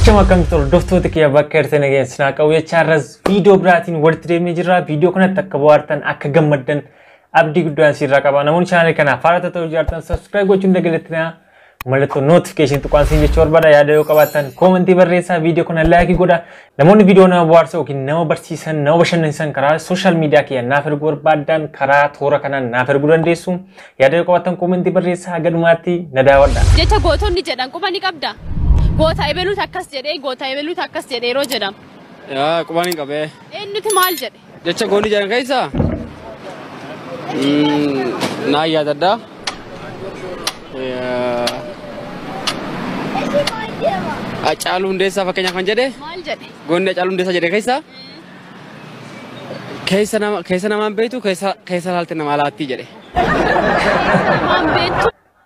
Akkuma akkamtu hordoftoota kiyya bakka irratti nageen sinaa qabu jecha har'as viidiyoo biraatiin walitti deemnee jirra. Viidiyoo kanatti akka bohaartan akka gammaddan abdii guddaan siirraa qaba. Namoonni chaanaalii kanaaf haaraa ta'uu jaartan sabiskiraayib gochuun dagalattina. Mallattoo notifiikeeshinii tuqaan siin jechuu barbaada. Yaada yoo qabaattan koomentii barreessaa viidiyoo kana laayikii godha. Namoonni viidiyoo nama bohaarsa yookiin nama barsiisan, nama bashannansiisan karaa sooshaal miidiyaa kiyya naaf erguu barbaaddan karaa toora kanaan naaf erguu dandeessu. Yaada yoo qabaattan koomentii barreessaa haga dhumaatti na daawwadha. Jecha gootonni jedhan quba ni qabda? Goota ebeluutu akkas jedhee, goota ebeluutu akkas jedhe yeroo jedhamu. Yaa qubaan hin qabee. Eenyutu maal jedhe? Jecha goolii jedhan keessaa naa yaadadha. Hacaaluu Hundeessaa fakkeenyaaf kan jedhe Maal jedhe? goonni Hacaaluu Hundeessaa jedhe keessaa keessa nama keessa namaan beektu keessa keessa laalte namaa laattii jedhe. Waan beektu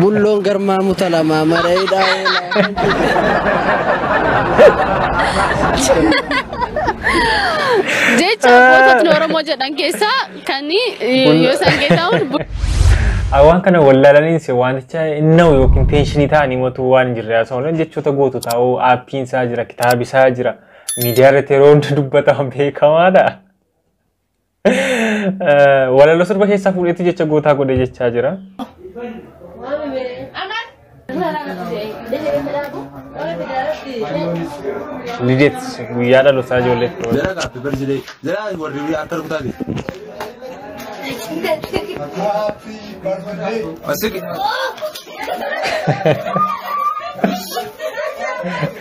Bulloon garmaa muta lamaa marayidhaa oolaa. Jecha goototni Oromoo jedhan keessaa kan yoo san keessaa hundi Ah, waan kana wallaalaniin si wanticha inna'u yookiin teenshinii ta'anii motuu waan hin jirre haasa'uun jechoota gootu ta'uu aappiin isaa jira kitaabi isaa jira miidiyaa irratti yeroo hunda dubbataman beekamaadha. Walaloo sirba keessaa fuudheetti jecha gootaa godhee jechaa jira. Lideet guyyaa dhalootaa ijoollee firoota. Jara gaaffi barsilee. Jara warri biyya harka rukutaa jiru. Asiki.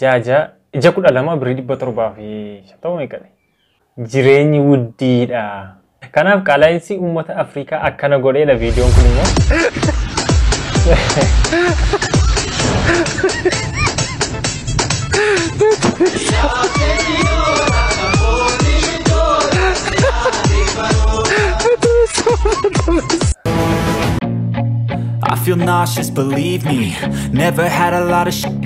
Ja'a ja'a ija kudha lama birrii dhibba torbaa fi shantama meeqadha? Jireenyi wuddiidha. Kanaaf qaala'insi uummata Afrikaa akkana godheedha viidiyoon kun immoo. I feel nauseous, believe me Never had a lot of sh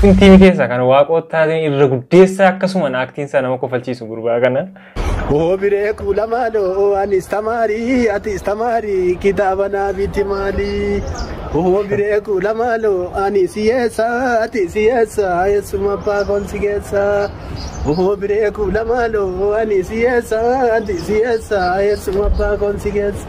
Kun tiivii keessaa kan waaqoottaatiin irra guddeessaa akkasuma naaktiin isaa nama kofalchiisu gurbaa kana. Hoo biree kuula maaloo anis tamaarii atis tamaarii kitaaba naa biti maalii. Hoo biree kuula maaloo anis hiyyeessa atis hiyyeessa eessuma abbaa koon si geessa. Hoo biree kuula maaloo anis hiyyeessa atis hiyyeessa eessuma abbaa koon si geessa.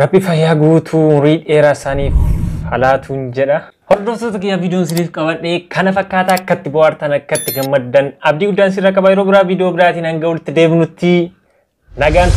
Rabbi fayyaa guutuu umurii dheeraa isaaniif halaatuun jedha. Hordoftoota kiyya viidiyoon isiniif qabadhe kana fakkaata akkatti bohaartan akkatti gammaddan abdii guddaan sirra qaba yeroo biraa viidiyoo biraatiin hanga walitti deebinutti nagaan.